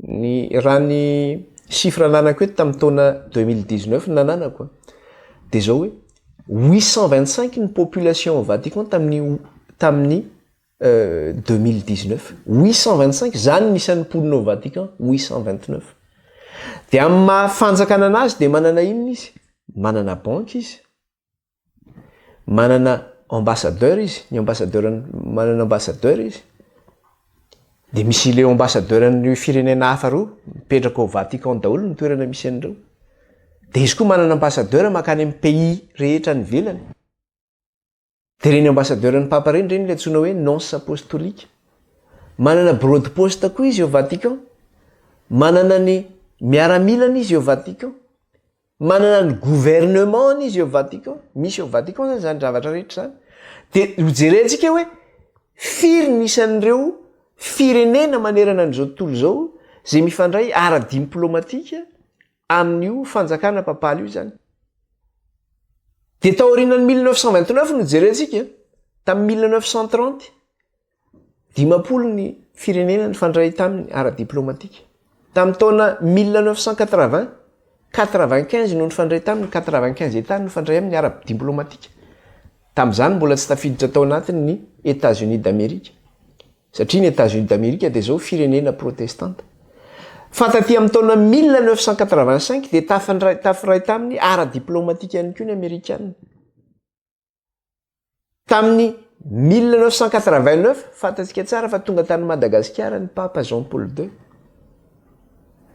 Ny raha ny chiffre ananako eto tamin'ny taona deux mille dix neuf no nananako a, dia izao hoe huit cent vingt cinq ny population Vatican tamin'ny tamin'ny deux mille dix neuf, huit cent vingt cinq, izany ny isan'ny mponina ao Vatican, huit cent vingt neuf. Dia amin'ny maha fanjakana anazy dia manana inona izy? Manana banque izy, manana ambassadeur izy ny ambassadeur manana ambassadeur izy de misy ileo ambassadeur an'io firenena hafa reo mipetraka ao vatican daholo ny toerana misy an'ireo de izy koa manana ambassadeur makany amin'ny pays rehetra any ivelany de reny ambassadeur ny papa reny reny le antsoina hoe nonce apostolique manana bureau de poste koa izy eo vatican manana ny miaramilany izy eo vatican manana ny gouvernement-ny izy eo Vatican, misy eo Vatican zany zany zavatra rehetra zany, de ho jerentsika hoe firy ny isan'ireo firenena manerana an'izao tontolo izao zay mifandray ara-dimplômatika amin'io fanjakana papaly io zany. De taorianan'ny mille neuf cent vingt neuf no jerentsika, tamin'ny mille neuf cent trente. Dimampolo ny firenena nifandray taminy ara-diplaomatika. Tamin'ny taona mille neuf cent quatre-vingts, quatre-vingt-quinze no nifandray taminy, quatre-vingt-quinze Etats no nifandray aminy ara-diplaomatika. Tamin'izany mbola tsy tafiditra tao anatiny ny Etats-Unis d'Amerique. Satria ny Etats-Unis d'Amerique dia izao firenena protestanta. Fa taty amin'ny taona mille neuf cent quatre-vingt-cinq dia tafandray, tafiray taminy ara-diplaomatika ihany koa ny Amerikana. Tamin'ny mille neuf cent quatre vingt neuf, fantatsika tsara fa tonga tany Madagasikara ny Papa Jean Paul ii.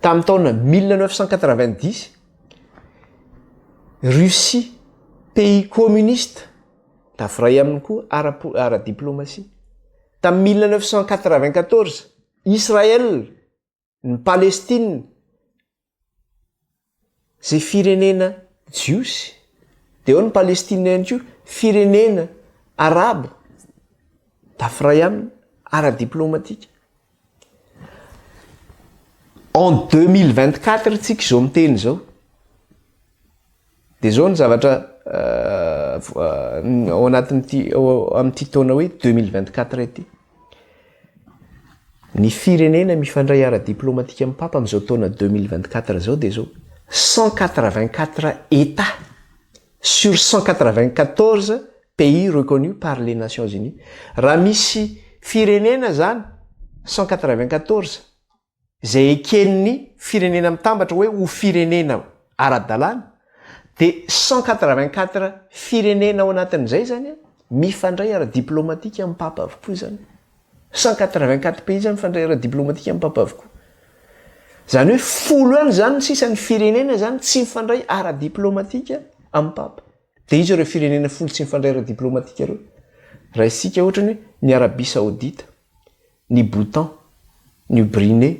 Tamin'ny taona mille neuf cent quatre vingt dix, Russie, pays communiste, tafiray aminy koa ara-po- ara-diplaomasia. Tamin'ny mille neuf cent quatre vingt quatorze, Israël, ny Palestina, izay firenena jiosy, dia eo ny Palestina ihany koa, firenena arabo, dafiray aminy ara-diplomatika. En 2024 isika izao miteny izao. Dia izao ny zavatra ao anatin'ity ao amin'ity taona hoe 2024 ity. Ny firenena mifandray ara-diplomatika amin'ny Papa amin'izao taona 2024 izao dia izao, 184 Etats sur 194 pays reconnus par les Nations Unies. Raha misy firenena izany 194 izay eken'ny Firenena Mitambatra hoe ho firenena ara-dalàna, dia cent quatre-vingt-quatre firenena ao anatin'izay izany mifandray ara-diplaomatika amim-papa avokoa izany. Cent quatre-vingt-quatre pays izany mifandray ara-diplaomatika amim-papa avokoa. Izany hoe folo any izany ny sisa ny firenena izany tsy mifandray ara-diplaomatika amim-papa. Dia iza ireo firenena folo tsy mifandray ara-diplaomatika ireo? Raha isika ohatra ny hoe ny Arabia Saodita, Ny Bhutan, New Brine,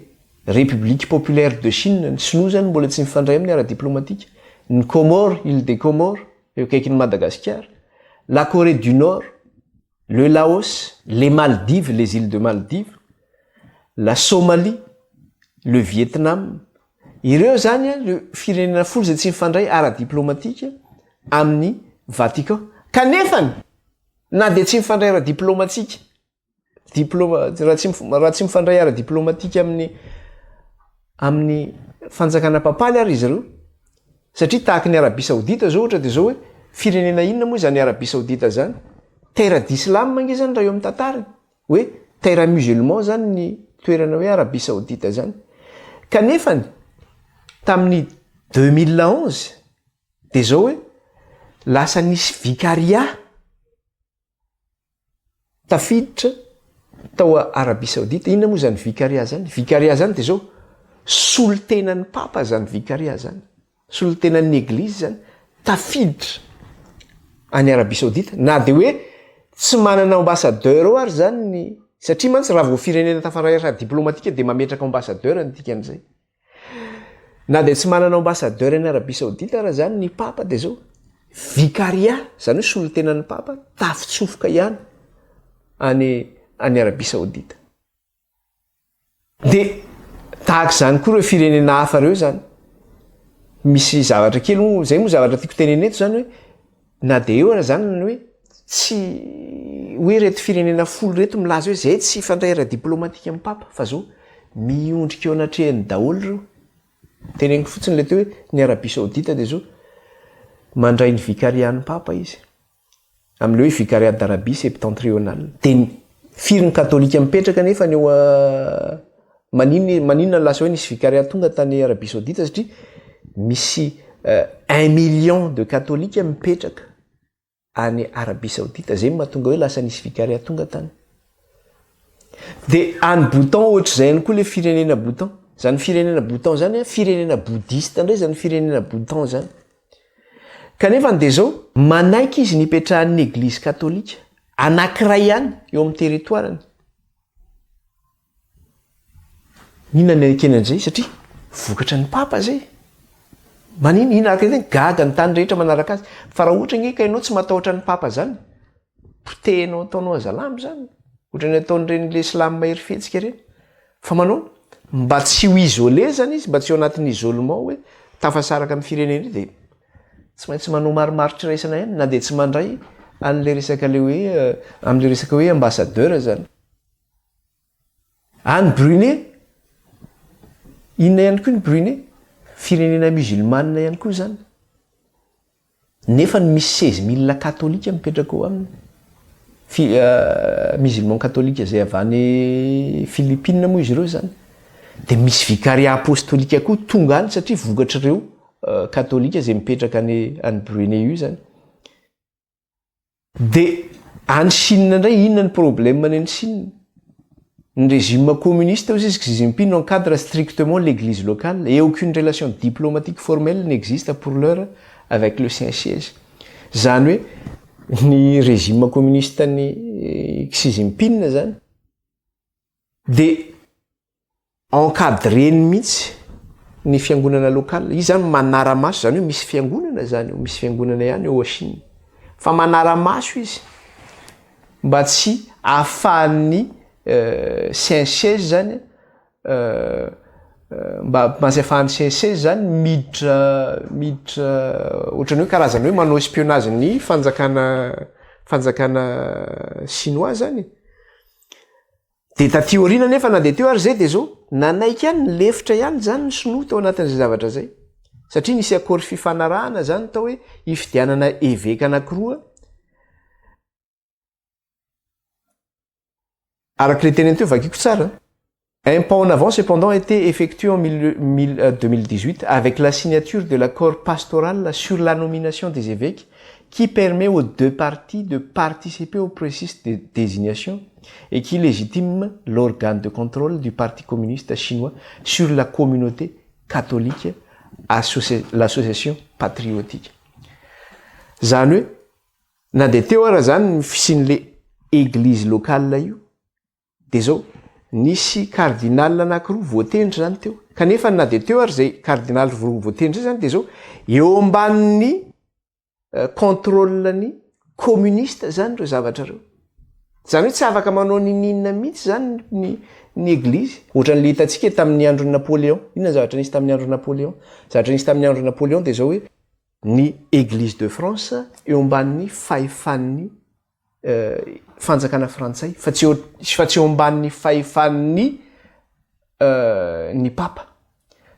République Populaire de Chine, ny Sinoa izany mbola tsy mifandray amin'ny ara-diplaomatika, ny Comores, Îles des Comores, eo akaikin'i Madagasikara, La Corée du Nord, le Laos, les Maldives, les Îles de Maldives, la Somalie, le Vietnam, ireo izany ireo firenena folo izay tsy mifandray ara-diplaomatika amin'i Vatican. Kanefany, na dia tsy mifandray ara-diplaomatika diploma raha tsy raha tsy mifandray ara diplomatika amin'ny amin'ny fanjakana papaly ary izy ireo satria tahaka ny arabia saodita zao ohatra de zao hoe firenena inona moa izany arabia saodita zany terre d'islam ange zany raha eo amin'ny tantariny hoe terre musulman zany ny toerana hoe arabia saodita zany kanefany tamin'ny deux mille onze de zao hoe lasa nisy vicaria tafiditra tao Arabie Saoudite, inona moa izany Vicariat izany? Vicariat izany dia izao, solontenan'ny Papa izany Vicariat izany, solontenan'ny Eglizy izany, tafiditra any Arabie Saoudite, na dia hoe tsy manana ambassadeur ao ary izany ny, satria mantsy raha vao firenena tafaray ara-diplomatika dia mametraka ambassadeur ny dikan'izay. Na dia tsy manana ambassadeur any Arabie Saoudite ara izany ny Papa dia izao, vicariat, izany hoe solontenan'ny Papa, tafitsofoka ihany any any Arabie Saoudite. Dia tahaka izany koa ireo firenena hafa ireo izany. Misy zavatra kely moa, izay moa zavatra tiako tenenina eto izany hoe, Na dia eo aza izany ny hoe tsy hoe ireto firenena folo ireto milaza hoe izay tsy hifandray ara-diplaomatika amin'ny Papa fa izao miondrika eo anatrehany daholo ireo. Teneniko fotsiny ilay teo hoe ny Arabia Saodita dia izao mandray ny vikarian'ny Papa izy amin'ilay hoe Vicariat d'Arabie Septentrionale. Dia firy ny Katolika mipetraka anefa any eo Manin maninona no lasa hoe nisy vicariat tonga tany Arabie Saoudite satria misy un million de katolika mipetraka any Arabie Saoudite zay no mahatonga hoe lasa nisy vicariat tonga tany. De any Bhutan ohatr'izay ihany koa le firenena Bhutan. Zany firenena Bhutan zany a firenena bouddhiste indray zany firenena Bhutan zany. Kanefany de zao, manaiky izy ny hipetrahan'ny eglizy katolika anankiray ihany eo amin'ny territoire-ny. Inona ny ekena an'izay satria vokatra ny papa izay. Manina inona araka izay gaga ny tany rehetra manaraka azy. Fa raha ohatra ange ka ianao tsy matahotra ny papa izany, potehinao ataonao azalambo izany. Ohatra ny ataon'ireny ilay slam mahery fihetsika ireny. Fa manao ahoana? Mba tsy ho isolé izany izy, mba tsy ho anatin'ny isolement hoe tafasaraka amin'ny firenena io dia tsy maintsy manao marimaritra iraisana ihany na dia tsy mandray an'ilay resaka ilay hoe amin'ilay resaka hoe ambassadeur izany. Any Brunei, inona ihany koa ny Brunei? Firenena musulmane ihany koa izany. Nefa ny misy seize mille katolika mipetraka ao aminy. Fi, uh, musulman katolika izay avy any Philippines moa izy ireo izany. Dia misy vikaria apostolika koa tonga any satria vokatr'ireo uh, katolika izay mipetraka any, any Brunei io izany. Dia any Chine indray inona ny problème any any Chine? Ny régime communiste hozy izy Xi Jinping no encadre strictement l'église locale et aucune relation diplomatique formelle n'existe pour l'heure avec le Saint Siège. Izany hoe ny régime communiste any Xi Jinping izany dia Encadreny mihitsy ny fiangonana local, izy zany manaramaso, izany hoe misy fiangonana izany eo, misy fiangonana ihany eo ao Chine, fa manaramaso izy mba tsy ahafahan'ny CNCES zany mba mba tsy ahafahan'ny CNCES zany miditra miditra ohatran'ny hoe karazana hoe manao espionnage ny fanjakana fanjakana chinois zany e! Dia taty aoriana anefa na dia teo ary izay dia izao, nanaiky ihany ny lefitra ihany izany ny sinoa tao anatin'izay zavatra izay. Satria nisy accord fifanarahana izany tao hoe hifidianana eveka anakiroa, araka ilay teniny teo, vakiko tsara, un pas en avant cependant été effectué en mille, mille, euh, 2018 avec la signature de l'accord pastoral sur la nomination des évèques qui permet aux deux parties de participer au processus de désignation et qui légitime l'organe de contrôle du Parti communiste chinois sur la communauté catholique à l'association patriotique. Zany hoe na dia teo ara zany ny fisian'le eglise locale io dia zao, nisy cardinal anakiroa voatendry zany teo kanefa na dia teo ary zay cardinal roa voatendry zay zany dia zao eo ambanin'ny contrôle ny communiste zany ireo zavatra reo zany hoe tsy afaka manao nininona mihitsy zany ny ny eglizy ohatrany le hitantsika tamin'ny andron'ny napoléon inona zavatra nisy tamin'ny andron'ny napoléon zavatra nisy tamin'ny andron'ny napoléon de zao hoe ny eglizy de france eo amban'ny fahefan'ny fanjakana frantsay fa tsy fa tsy eo ambanin'ny fahefan'ny ny papa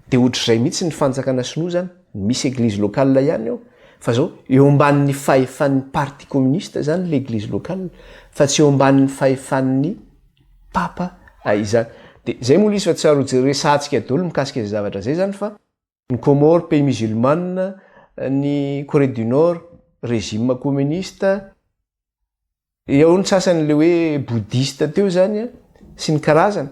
de ohatr'izay mihitsy ny fanjakana sinoa zany misy eglizy locale ihany eo fa zao eo ambanin'ny fahefan'ny parti communiste zany le eglizy locale fa tsy eo ambanin'ny fahefan'ny papa izany de zay moa le izy fa tsy ary ho jeresahantsika daholo mikasika izay zavatra zay zany fa Ny Comores, pays musulmane, ny Corée du Nord, régime communiste, eo ny sasany ilay hoe bouddhiste teo izany an, sy ny karazany.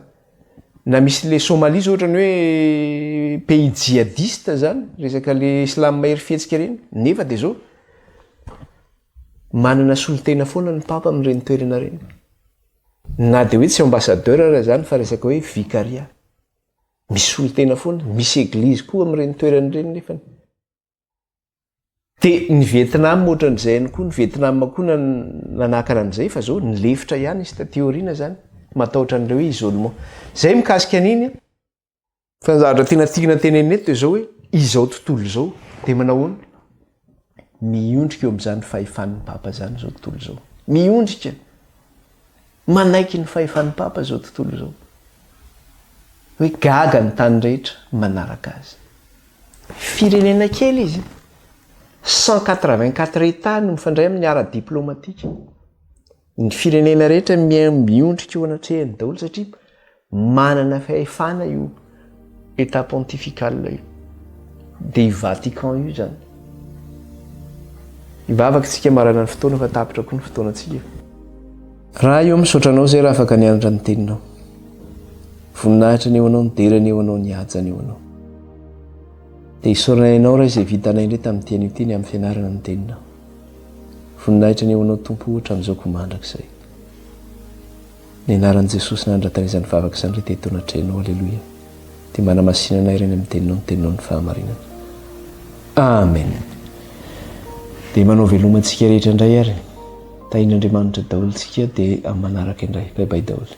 Na misy ilay Somalie izao ohatran'ny hoe pays djihadiste izany, resaka ilay islam mahery fihetsika ireny, nefa dia izao manana solontena foana ny Papa amin'ireny toerana ireny. Na dia hoe tsy ambassadeur aza izany fa resaka hoe vicaria. Misy solontena foana, misy eglizy koa amin'ireny toerana ireny nefany. Dia ny Vietnam ohatran'izay ihany koa, ny Vietnam koa nanakana an'izay fa zao nilefitra ihany izy taty aoriana zany, matahotra an'ilay hoe isolement. Zay mikasika an'iny an! Fa ny zavatra tena tiana tenenina eto dia zao hoe, izao tontolo izao dia manahoana? Miondrika eo amin'izany fahefan'ny Papa izany izao tontolo izao. Miondrika, manaiky ny fahefan'ny Papa izao tontolo izao. Hoe gaga ny tany rehetra manaraka azy. Firenena kely izy, cent quatre-vingt-quatre Etats no mifandray amin'ny ara-diplaomatika. Ny firenena rehetra miondrika eo anatrehany daholo satria manana fahefana io Etat pontifical io. Dia i Vatican io izany. Hivavaka isika marana ny fotoana fa tapitra koa ny fotoanantsika. Ra io misaotra anao zay ra afaka nianatra ny teninao. Voninahitra ny eo anao ny dera ny eo anao ny haja ny eo anao. Dia isaorana ianao ra izay vitanay indray tamin'ity anio ity ny amin'ny fianarana ny teninao. Voninahitra ny ho anao Tompo o hatramin'izao koa mandrakizay. Ny anaran'i Jesosy nanandratana izany vavaka izany re teto anatrehanao Aleloia dia manamasina anay Reny amin'ny teninao ny teninao ny fahamarinana. Amen. Dia manao veloma antsika rehetra indray ary. Tahin'Andriamanitra daholo tsika dia amin'ny manaraka indray. Bye bye daholo.